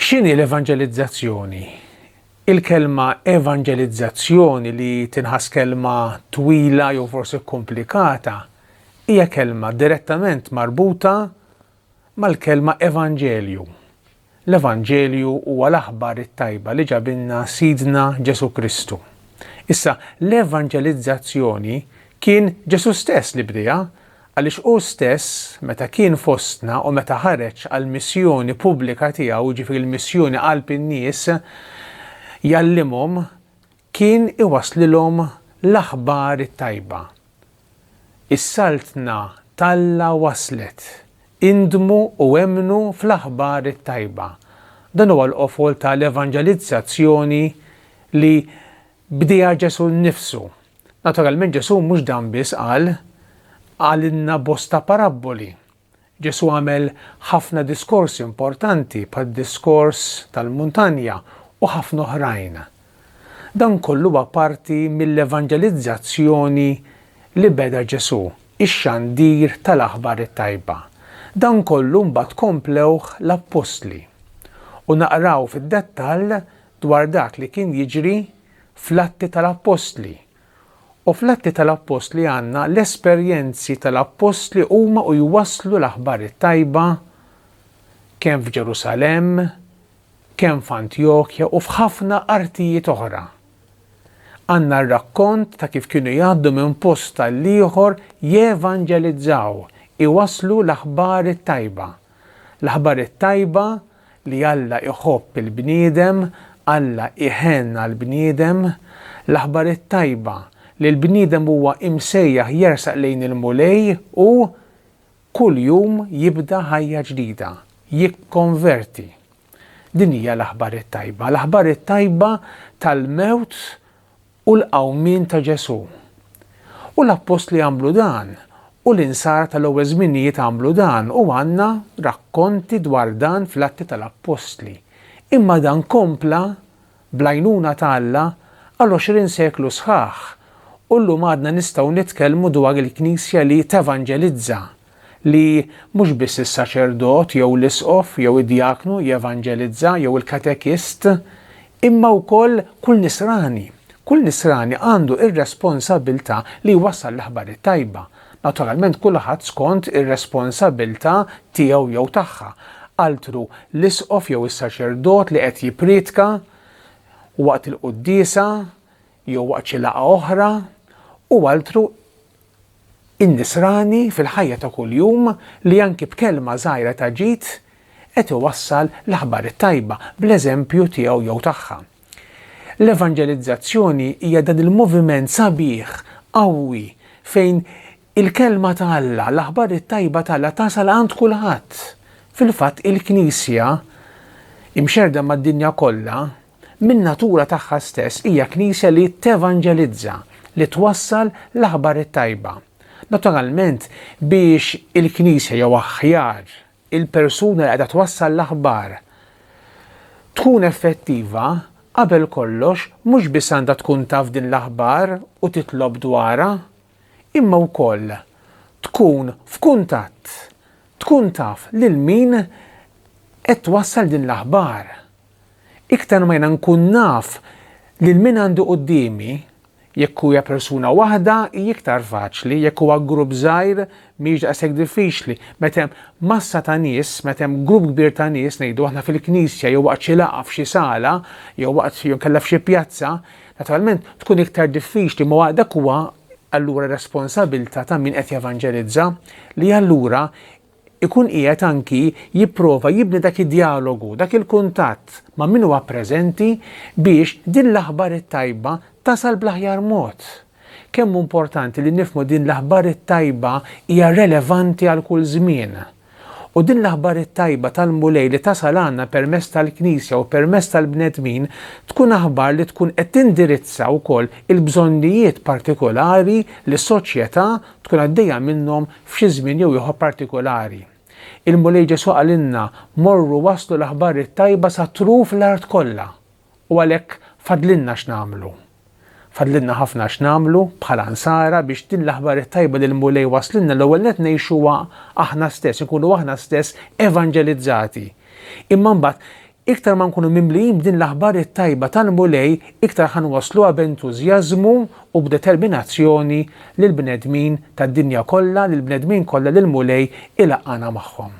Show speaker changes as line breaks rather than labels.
X'inhi l-evanġelizzazzjoni? Il-kelma evanġelizzazzjoni li tinħass kelma twila jew forsi kkumplikata hija kelma direttament marbuta mal-kelma evanġelju. L-evanġelju huwa l-aħbar it-tajba li ġabilna Sidna Ġesù Kristu. Issa, l-evanġelizzazzjoni kien Ġesù stess li bdieha, għaliex hu stess meta kien fostna u meta ħareġ għall-missjoni pubblika tiegħu, jiġifieri l-missjoni qalb in-nies, jgħallimhom Kien iwasslilhom l-aħbar it-tajba. Is-Saltna t'Alla waslet! Indmu u emmnu fl-aħbar it-tajba. Dan huwa l-qofol ta' l-evanġelizzazzjoni li bdieha Ġesù nnifsu. Naturalment Ġesù mhux dan biss qal, qalilna bosta parabboli. Ġesù għamel ħafna diskorsi importanti bħad-diskors tal-muntanja u ħafna oħrajn. Dan kollu huwa parti mill-evanġelizzazzjoni li beda Ġesù, ix-xandir tal-aħbar it-tajba. Dan kollu mbagħad komplewh l-appostli. U naqraw fid-dettall dwar dak li kien jiġri fl-Atti tal-Appostli. U fl-Atti tal-Appostli għandna l-esperjenzi tal-Appostli huma u jwasslu l-aħbar it-tajba kemm f'Ġerusalemm, kemm f'Antjokja u f'ħafna artijiet oħra. Għandna r-rakkont ta' kif kienu jgħaddu minn post għall-ieħor jevanġelizzaw, iwasslu l-aħbar it-tajba. L-aħbar it-tajba li Alla jħobb il-bniedem, Alla jħenn għall-bniedem, l-Aħbar it-Tajba li l-bniedem huwa imsejjaħ jersaq lejn il-Mulej u kull jum jibda ħajja ġdida, jikkonverti. Din hija l-Aħbar it-Tajba, l-Aħbar it-Tajba tal-mewt u l-qawmien ta' Ġesù. U l-appostli għamlu dan, u l-insara tal-ewwel żminijiet għamlu dan u għandna rakkonti dwar dan fl-Atti tal-Appostli. Imma dan kompla, bl-għajnuna ta' Alla, għal għoxrin seklu sħaħ, u llum għadna nistgħu nitkellmu dwar il-Knisja li tevanġelizza, li mhux biss is-saċerdot jew l-isqof jew id-djaknu jevanġelizza jew il-katekist, imma wkoll kull Nisrani. Kull Nisrani għandu r-responsabbiltà li jwassal l-aħbar it-tajba, naturalment kulħadd skont ir-responsabbiltà tiegħu jew tagħha, altru l-isqof jew is-saċerdot li qed jippriedka waqt il-quddiesa jew waqt xi laqgħa oħra, u altru in-nisrani fil-ħajja ta' kuljum li anki b'kelma żgħira ta' ġid qed iwassal l-aħbar it-tajba bl-eżempju tiegħu jew tagħha. L-evanġelizzazzjoni hija dan il-moviment sabiħ, qawwi, fejn il-kelma ta' Alla, l-aħbar it-tajba ta' Alla tasal għand kulħadd. Fil-fatt il-Knisja, imxerrda mad-dinja kollha, Min-natura tagħha stess hija Knisja li tevanġelizza, li twassal l-aħbar it-tajba. Naturalment, biex il-Knisja jew aħjar, il-persuna li qiegħda twassal l-aħbar tkun effettiva, qabel kollox mhux biss għandha tkun taf din l-aħbar u titlob dwarha, imma wkoll tkun f'kuntatt, tkun taf lil min qed twassal din l-aħbar. Iktar ma jiena nkun naf lil min għandi quddiemi, jekk hija persuna waħda hi iktar faċli, jekk huwa grupp żgħir mhijiex daqshekk diffiċli. Meta hemm massa ta' nies, meta hemm grupp kbir ta' nies, ngħidu aħna fil-knisja jew waqt xi laqgħa f'xi sala, jew waqt jew inkella f'xi pjazza, naturalment tkun iktar diffiċli ma dak huwa allura responsabilità ta' min qed jevanġelizza li allura ikun qiegħed anki jipprova jibni dak id-djalogu, dak il-kuntatt ma' min huwa preżenti biex din l-aħbar it-tajba tasal bl-aħjar mod. Kemm hu importanti li nifhmu din l-aħbar it-tajba hija relevanti għal kull żmien. U din l-aħbar it-tajba tal-Mulej li tasal għandna permezz tal-Knisja u permezz tal-bnedmin tkun aħbar li tkun qed tindirizza wkoll il-bżonnijiet partikulari li s-soċjetà tkun għaddejja minnhom f'xi żmien jew ieħor partikulari. Il-Mulej Ġesù qalilna, Morru wasslu l-aħbar it-tajba sa truf l-art kollha. U għalhekk fadlilna x'nagħmlu. Fadlilna ħafna x'nagħmlu bħala Nsara biex din l-aħbar it-tajba li l-Mulej wasslilna l-ewwel nett ngħixuha aħna stess, inkunu aħna stess evanġelizzati. Imma mbagħad Iktar ma nkunu mimlijin b'din l-aħbar it-tajba tal-Mulej, iktar ħa nwassluha b'entużjażmu u b'determinazzjoni lill-bnedmin tad-dinja kollha, lill-bnedmin kollha li l-Mulej ilaqqagħna magħhom.